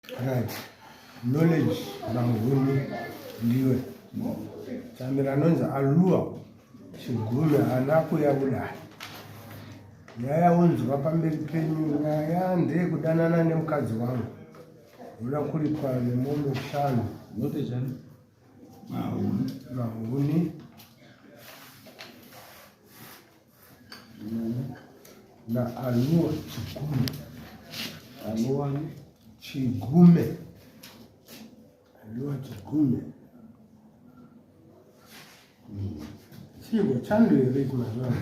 Right. Knowledge mahuni ndiwe. Chamira anonzi alua chigumi haana kuya kudai. Nyaya unzwa pamberi penyu nyaya ndeye kudanana nemukadzi wangu. Unoda kuripwa nemombe shanu. Note chani? Mahuni. Mahuni. na anua chigume anuwani chigume anua chigume chigo chando here kumazvaa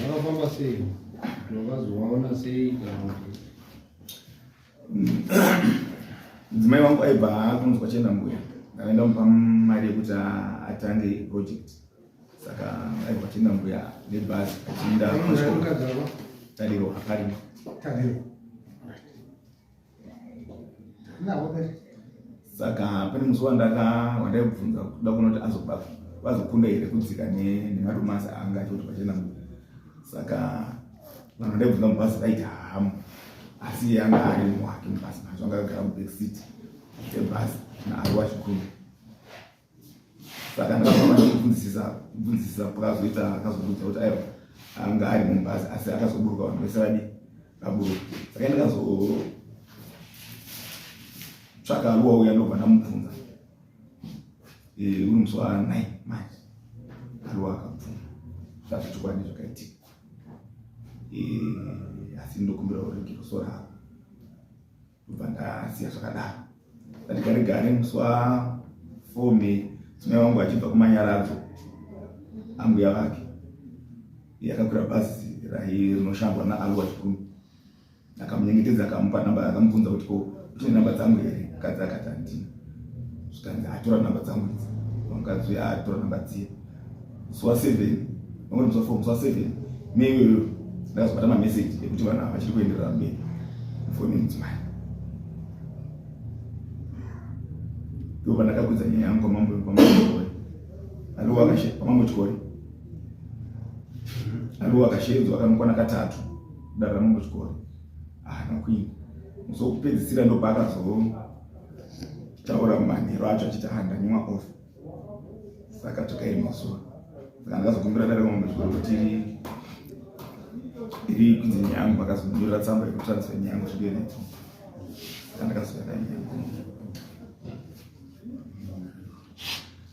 vakafamba sei vakazovaona sei kana kuti mudzimai wangu aibva akunzwa chena mbuya akaenda mupa mari yekuti atange project saka aibva chena mbuya nebhazi achiinda tariro akarima saka pane musi wandaka wandaibvunza kuda kuona kuti azobaka vazokunda here kudzika nemadomasi anga achoti pachena mbuya saka Vanhu ndaibvunza mubhazi vaiti hamu asi iye anga ari mumwe wake mubhazi mazvo anga agara mubackseat ebhazi naari wachikuru saka ndakaaaifunzisisa kubvunzisisa pakazoita akazobuda kuti aiwa anga ari mumubhazi asi akazoburuka vanhu vese vadi vaburuka saka ndakazotsvaka ruwa uya ndobva ndamubvunza uri musi wa nine manje aruwa akabvuma zvazvechokwadi zvakaitika eh, asi ndokumbira urege ruso ravo ndobva ndasiya zvakadaro ndatigare gare muswa fome tsumai wangu achibva kumanyaradzo ambuya vake yakakwira bhazi rahi rinoshandwa naalwa chikumi akamunyengetedza akamupa namba akamubvunza kuti ko utine namba dzangu here mukadzi akati handina zvikanzi atora namba dzangu idzi mukadzi uya atora namba dziye musi wa seven vangoti musi wa four musi wa seven me iyoyo ndakazobata mameseji ekuti vanhu ava vachiri kuenderera mberi mufoni mudzimai ndo pandakakwidza nyaya yangu kwamambo kwamambochikore aliwo akashe kwamambochikore aliwo akashedzwa akanokwana katatu dara muchikoro haana kuinda musokupedzisira ndopaakazotaura manhero acho achiti handanyimwa off saka takairi mazuva saka ndakazokumbira dare mamwe zvikoro kuti iri kunzi nyangu akazonyorera tsamba yekutransfer nyangu zvidenetso saka ndakazoyaka nyangu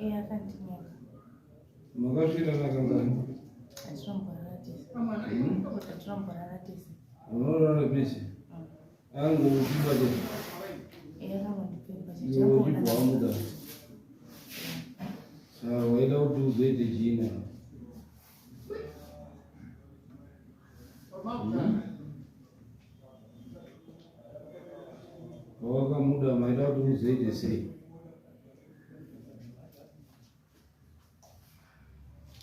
Eh, akandinyenga. Makasvira nakangani? Atiromborara tese. Hmm? Atiromborara tese. Unorara pese? Hmm. Angu uchipa tese. Eh, angu ndipepa tese. Iwe uchipa wamuda. Sawa, waida kuti uzoite china. Hmm? Wawakamuda maida kuti uzoite sei?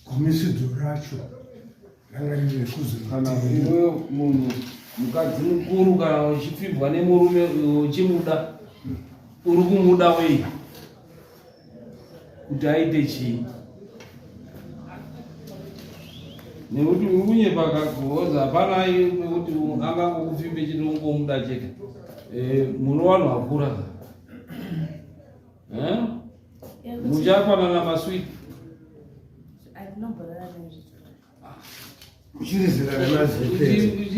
gumisidzo racho ranga riri rekuzokana iweyo munhu mukadzi mukuru kana uchipfibwa nemurume uchimuda uri kumuda wei kuti aite chii nekuti uri kunyepa kakuhoza hapana kuti angangokupfimbe chiti ungomuda chete eh, muno vanhu vakura Eh? Muchafanana masweet. Uchiri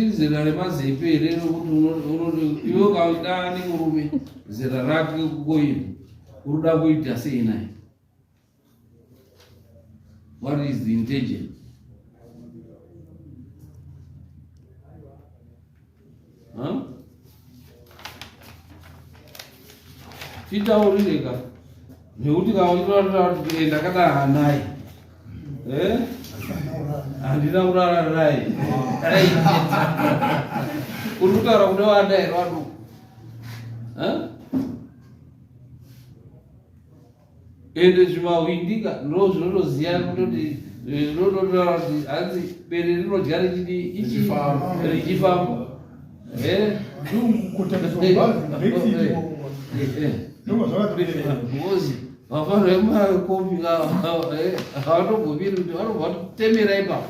zera remazepe here rokuti iwe ukaudani murume zera rake kukoini uruda kuita sei naye What is the intention? Huh? Titaurireka nekuti kaondoratira ndakadara naye eh? handina kurara naye uri kutaura kune vana here vaduku ende zvimahwindika ndo zvinotoziva kutoti zvinototaura kuti hanzi bere rinodya richidi richifamba ngozi vafana vemakopi havatogobiri kuti vanobva totemera ipapo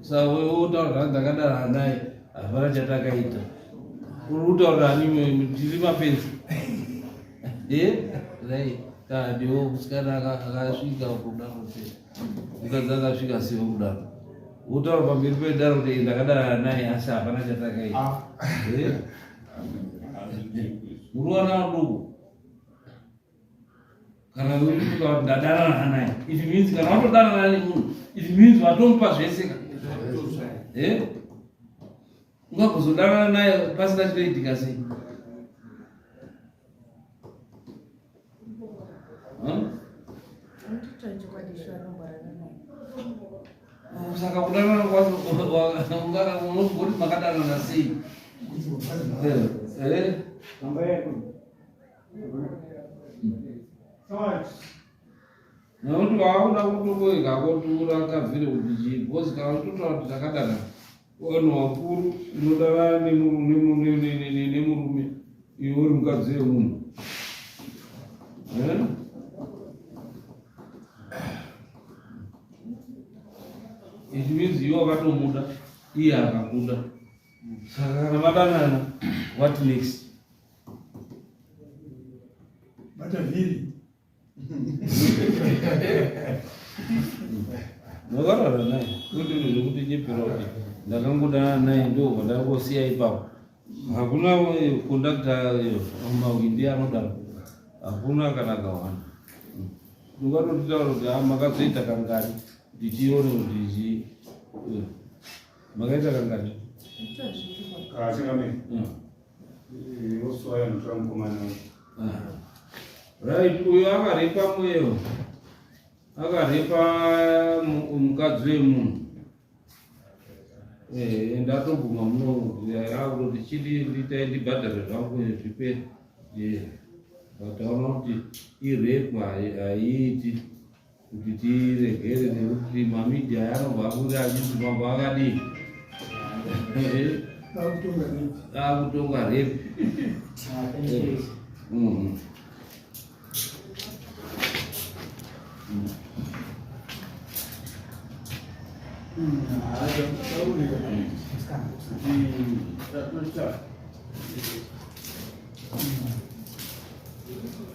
Saka wewe wotaura zvanzi ndakadaro hanai hapana chatakaita. Uri kutaura ani tiri mapenzi. Eh? Right. Kadiwo musikana akasvika kudaro se. Mukadzi akasvika sewo kudaro. Wotaura pamberi pedaro kuti ndakadaro hanai asi hapana chatakaita. Ah. Eh? Uruwana ruko. kana uchifunga kuti ndadanana hanaye it means kana watodanana nemunhu it means watomupa zvese ka eh? ungakuzodanana naye pasina chinoitika sei saka kudanana kwacho unogoti makadanana sei eh, eh? nokuti vakakuda kutokoika kotura kavhiri kuti chii because kana utotaura kuti takadana vanhu vakuru unodanana nemurume iwe uri mukadzi wemunhu eh? it means iwe wakatomuda iye akakuda saka kana madanana what next bata vhiri ndakarara naye ndodiro zvekuti nyepera kuti ndakangodana naye ndo vandakosiya ipapo hakuna kondakta eh, mawindi anodaro hakuna kana kawanda ndokatotitaura kuti ah, makazoita kangani kuti tione kuti zi eh, makaita kangani Right, uyo akarepa mweyo akarepa mukadzi wemunhu eh, ndatobvuma munoakuti chidi nditai ndibhadhare zvangu zvipe eh, but aona kuti irepa haiiti kuti tiregere nekuti mamidia yanobva abuda achiti mambo akadii akutonga repi Thank you.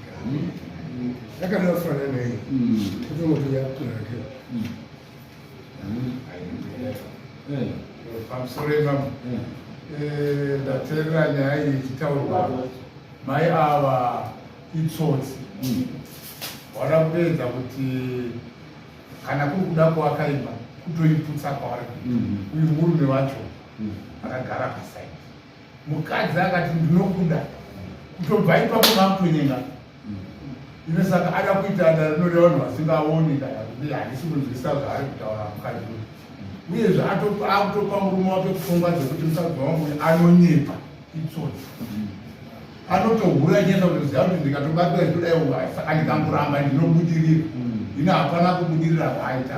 yakanofanana iyi kuti moto yakunake pamusoro ivamo ndaterera nyaya iyi ichitaurwa mai ava itsotsi vada kuedza kuti kana kuri kuda kuvaka imba kutoiputsa kwavari uyu murume wacho akagara pasaidi mukadzi akati ndinokuda kutobva ipapo makutonyenga ine saka ada kuita ndarinode vanhu vasingaoni ndayakuti handisi kunzwisa zvaari kutaura mukadzi uyu uyezve akutopa murume wake pfungwa dzekuti mukadzi wangu uyu anonyepa itsotsi anotohura nyesa kuti ziva kuti ndikatobatira zvidai uyu saka ndikamuramba ndinobudirira ine hapana kubudirira zvaaita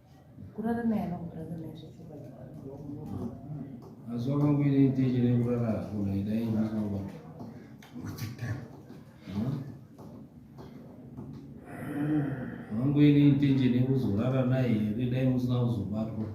kurara naye anokutanga naye zvechokwadi mazuva mangu ine iteche rekurara hakuna idai ndinova mangu ine iteche nekuzorara naye here dai musina kuzobatwa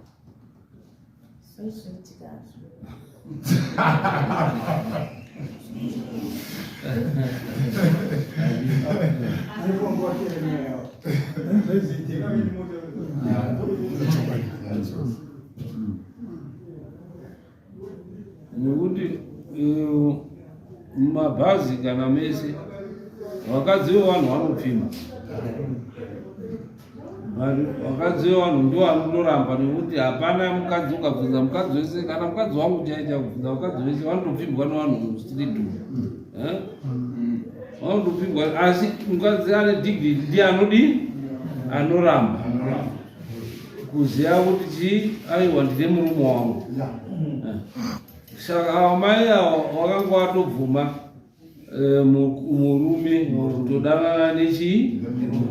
nekuti eh, mumabhazi kana mese vakadzi vevanhu vanopfima vakadzi vevanhu ndo vanondoramba nekuti hapana mukadzi ukabvunza mukadzi wese kana mukadzi wangu chaicha kubvunza vakadzi vese vanotopfigwa nevanhu mustreet eh? vanotopfigwa asi mukadzi ane digri ndi anodi anoramba kuziva kuti chii aiwa ndine murume wangu eh. saka amai avo vakanga vatobvuma Eh, murume todanana nechii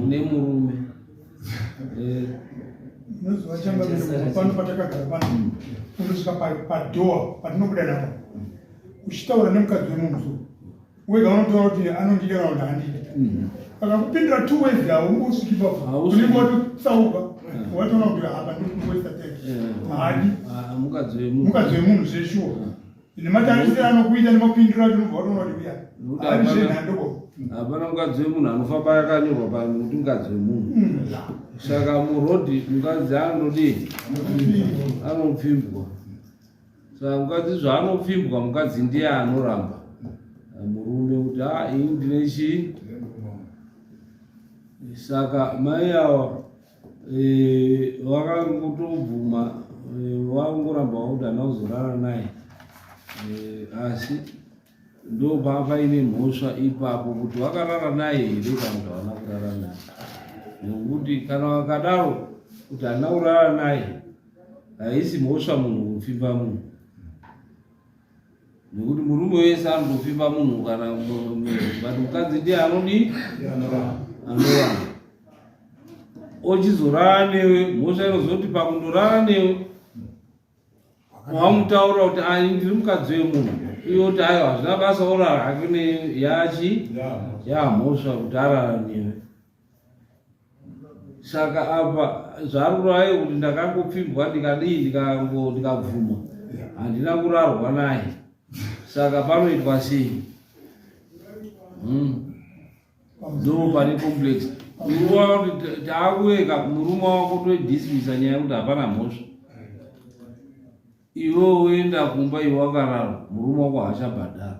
nemurume eh. unoziva changamiro pano patakagara pano unosvika padhoa patinobuda napo uchitaura nemukadzi wemunhu wega unotaura kuti anondida kana kuti handidi mm-hmm. akakupindura two ways haungosviki paunenge watotsauka mm-hmm. watoona kuti apa ndikuwesta tete eh. haadi ah, mukadzi wemunhu zveshuwa nematarisiro anokuita nemapindiro atinobva watoona kuti uya ari zvenhandoko hapana mukadzi wemunhu anofamba yakanyorwa pano kuti mukadzi wemunhu hmm. saka murodhi mukadzi anodii anopfimbwa saka mukadzi zvaanopfimbwa mukadzi ndiye anoramba murume kuti a ah, ini ndine chii saka mai awa Eh, vakangotobvuma eh, vangoramba vakuti hana kuzorara naye eh, asi ndopaa paine mhosva ipapo kuti vakarara naye here kana kuti havana kurara naye nekuti kana vakadaro kuti hana kurara naye haisi mhosva munhu kupfimba munhu nekuti murume wese anotopfimba munhu kana but mukadzi ndiye anodi anowana ochizorara newe mhosva inozoti pakundorara newe wamutaura kuti ai ndiri mukadzi wemunhu iyo kuti ayo hazvina basa orara hake neyachi yamhosva kuti arara newe saka apa zvaruraye kuti ndakangopfimbwa ndikadii ndikabvuma handina kurarwa naye saka panoitwa sei hmm. ndo pane complex uruwa kuti taakuyeka murume wako toidismisa nyaya yekuti hapana mhosva iwe woenda kumba iwe wakararwa murume wako haachabhadhara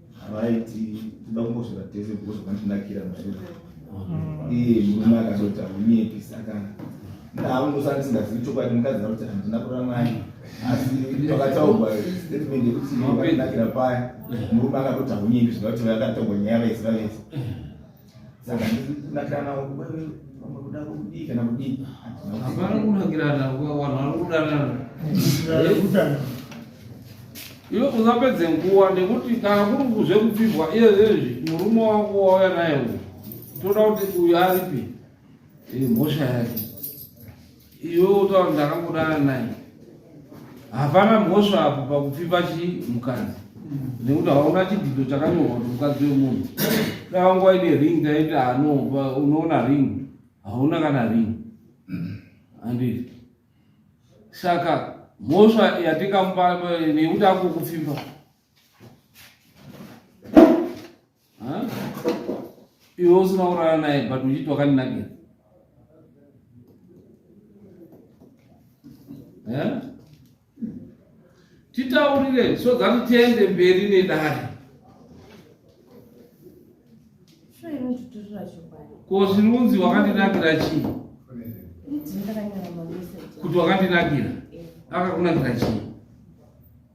havaiti toda kungosvira tese because vanondinakira muzviro mm. iye murume akazoti haunyepi saka ndaungosa ndisingazivi chokwadi mukadzi akuti handina kuramai asi pakataurwa statement yekuti vanonakira paya murume akatoti haunyepi zvinokuti vakataurwa nyaya vaisi vavese saka ndinakirana wewe vamwe kuda kudii kana kudii hapana kunakirana vanhu vari kudanana iwe usapedze nguva nekuti kana kuri kuzve kupfigwa iye zvezvi murume wako wauya naye uyu toda kuti uyu aripi mhosva yake Iwe utaura ndakangodana naye. Hapana mhosva apo pakupfipa chi mukadzi. Nekuti hauna chidzidzo chakanyorwa kuti mukadzi wemunhu. Dai wanga waine ring taiti hano ah, unoona ring. Hauna kana ring. Anditi. Saka mhosva yatikamupa nekuti akukupfimba. iwe usina kurara naye but uchiti wakandinakira titaurire so that tiende mberi nedare ko zvinunzi wakandinakira chii kuti wakandinakira akakunakira chii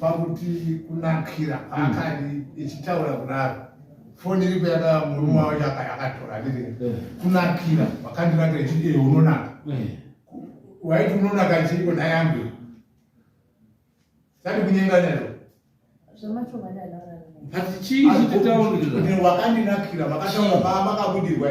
pakuti kunakira hmm. akadi ichitaura kudaro foni iri kuyada murume wacho akatora ndiri hmm. kunakira wakandirakira ichiti ee unonaka hmm. waiti unonaka chiiko nhai yangu tati kunyenga nero but chii chititaurira wakandinakira makataura paa makabudirwa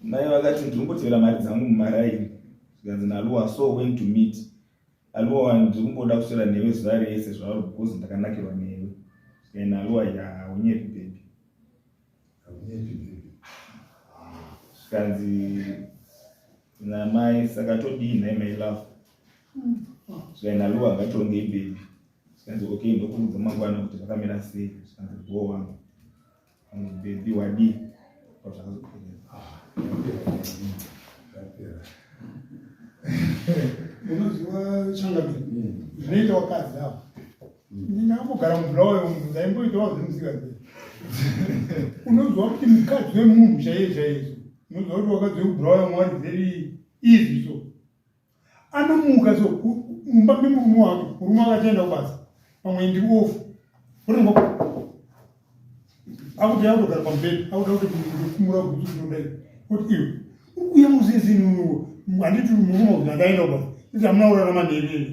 Mai vakati ndiri kumbotevera mari dzangu mumaraini zvikanzi naluwa so went to meet aluwa wani ndiri kumboda kuswera newe zuva rese zvauri because ndakanakirwa newe zvikaina aluwa ya haunyepi bebi zvikanzi namai saka todii nhai mai love zvikaina aluwa ngatongei bebi zvikanzi okay ndokuudza mangwana kuti zvakamira sei zvikanzi bho wangu Mubhedhi wadii? unoziva changamire hmm. zvinoita wakadzi avo ndingambogara mubulawayo munhu ndaimboitawo zvemusikadzi unoziva kuti mukadzi wemunhu chaiye chaiyeso unoziva kuti wakadzi wekubulawayo mwari very easy so anomuka so mumba memurume wake murume wake achaenda kubasa pamwe ndiri ofu otongo akuti akutogara pamubhedha akuda kuti kumura kuti ndodai kuti iwe uye muzizi nunuwo handiti murume kuti andaenda kubasa iti amuna urarama nherere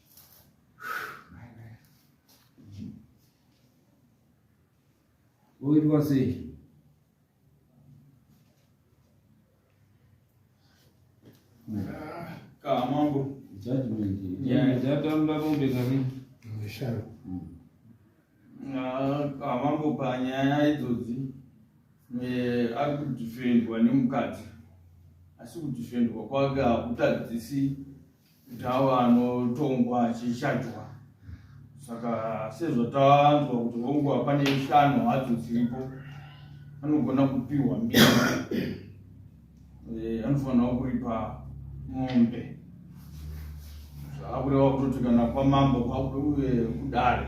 Oitwa sei? Kaa mambo. Judgment. Yeah. Jatamba bombe kani? Mshalo. Kaa mambo panyaya idzodzi eh, ari kudifendwa nemukadzi asi kudifendwa kwake hakutadzisi Ndawa anotongwa achishajwa saka sezvo tanzwa kuti honguva pane shano hadzo dziripo anogona kupiwa mbiri eh, anofanirawo kuripa mombe zvakureva kutoti kana kwamambo kwakuuye kudare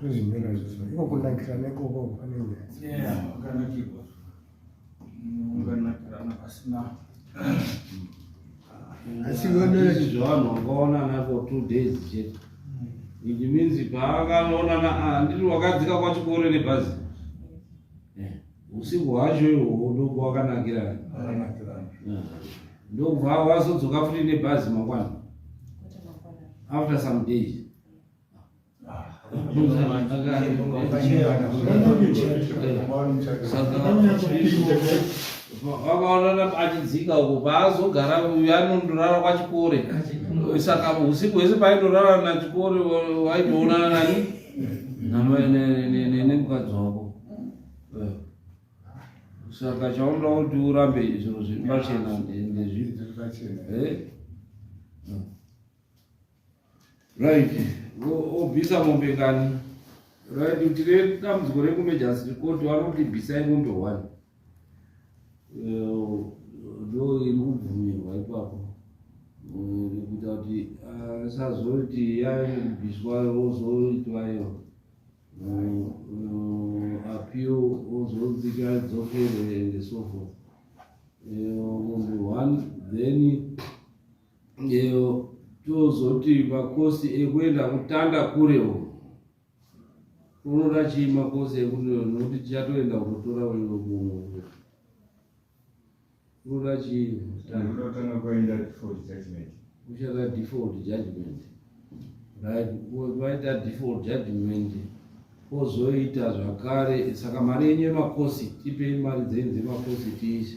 tozvinyora zviso iko kunakirana ikoko pane nyayaakanakirwa unganakirana pasina asi vanoiti zvavanhu vangaonana for two days chete it means paakanoonana ah, ndiri wakadzika kwachikoro nebhazi eh, usiku hwacho ihwoho ndokwa wakanakirana eh, ndokubva wazodzoka futi nebhazi mangwana after some days vakaonana achidzinga uko paazogara uyu anondorara kwachikore saka usiku hwese paindorara nachikore waitoonana nani nemukadzi wako eh. saka chaunoda kuti urambe zvinhu zviri pachena ndezvii right obvisa mombe ngani right kuti redambudziko rekumejasi court vanoti bvisai mombe one eh, ndo iri kubvumirwa ipapo eh, rekuita kuti asazoti ah, yaibviswa ozoitwa iyo eh, appeal ozodzika dzokere and so forth munhu one then Ndeo tozoti makosi ekuenda kutanda kure uko unoda chii makosi ekuti nokuti tichatoenda kunotora uyo munhu unoda chii kutanga kwaenda default judgment uchada default judgment right waita default judgment kozoita zvakare saka mari yenyu yemakosi tipei mari dzenyu dzemakosi tiise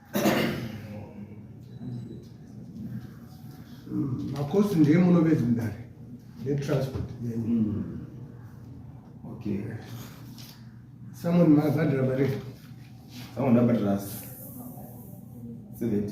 makosi ndiye munovedzi mudare netransport yenyu mm. okay someone mabhadhira mari someone abhadhira 70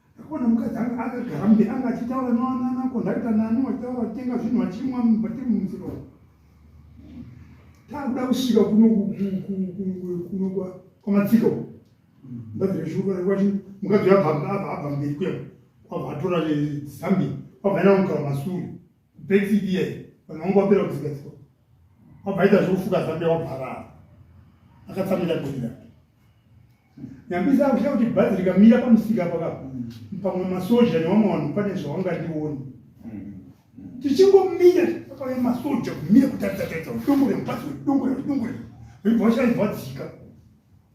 Ndakaona mukadzi anga akagara mbe anga achitaura nawanana kondakita nani wachitaura kutenga zvinhu vachimwa vatiri mumusika umu. Takuda kusvika kuno kuno kwamatsika uku. Ndabvira shuka kwachi mukadzi abva abva mberi kwema kwabva atora zambi kwabva ena mukara masuri. Brexit iya iyi vanhu vanga vapera kuzigadzikwa wabvaita zvekufuka zambia wabharara akatsamira gori rake nyambisa akushaya kuti bhazi rikamira pamusika paka pamwe masoja nevamwe vanhu pane zvavangandioni tichingomira pamwe masoja kumira kutaridza taridza udongore mubhazi wedongore udongore vaibva vashaya vadzika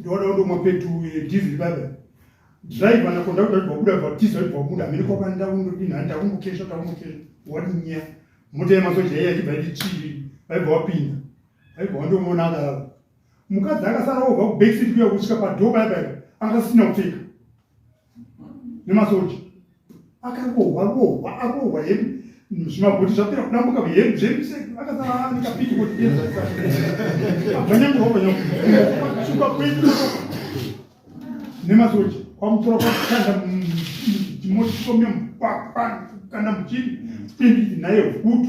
ndoda ndomwa petu eh, diesel baba driver na conductor kuti wabuda bva tiza kuti wabuda miri kwa banda undo dina anda kungu kesha ta kungu kesha wadi nya moto ya masoja ya tiba ndi chiri bai bva wapinda bai bva ndo mona ala mukadzi akasara obva ku back seat kuya kusvika pa door baba akasina kupfeka nemasoja akarohwa rohwa arohwa hedu zvimabhuti zvapera kudambuka hedu zvedu se akasara nekapiti kotianyangurovanyakusuka kwedu nemasoja kwamutora kwakutanda motishomya mupapa kana muchini pindii naye hutu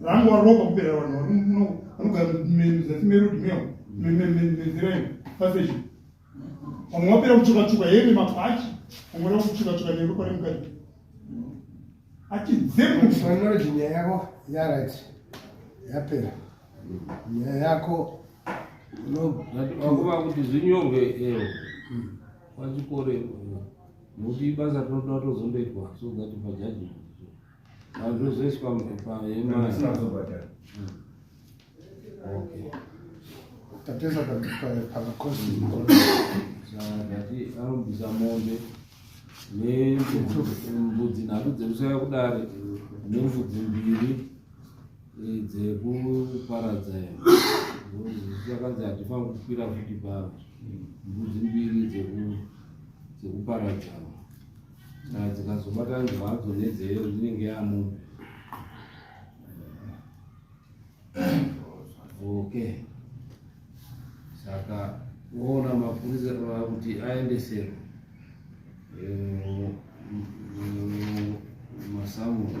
vangu varoka kupera vanhu vanogara muzasi merudi meo menzira iyo paseshi vamwe vapera kutsvukatsvuka heve mabhachi vamwe vaa kutsvukatsvuka neropa remukati achidzemumarriage nyaya yako yarit yapera nyaya yako vakuva kuti zvinyorwe eo pachikoro nokuti ibasa tinotoda tozondoitwa so that pajaji Hazvizoiswa mupepa yemari. Asina kuzobhadhara. Okay. Tateza pakati pakakosi mukuru. Zvakati anobvisa mombe nembudzi nhatu dzekusaya kudare nembudzi mbiri eh, dzekuparadza akanzi hatifanira kukwira futi pava mbudzi mbiri dzekuparadza dzikazobatana zvadzo nedzeyo dzinenge yamo okay saka woona mapurisa kuti aendesero eh, masamuro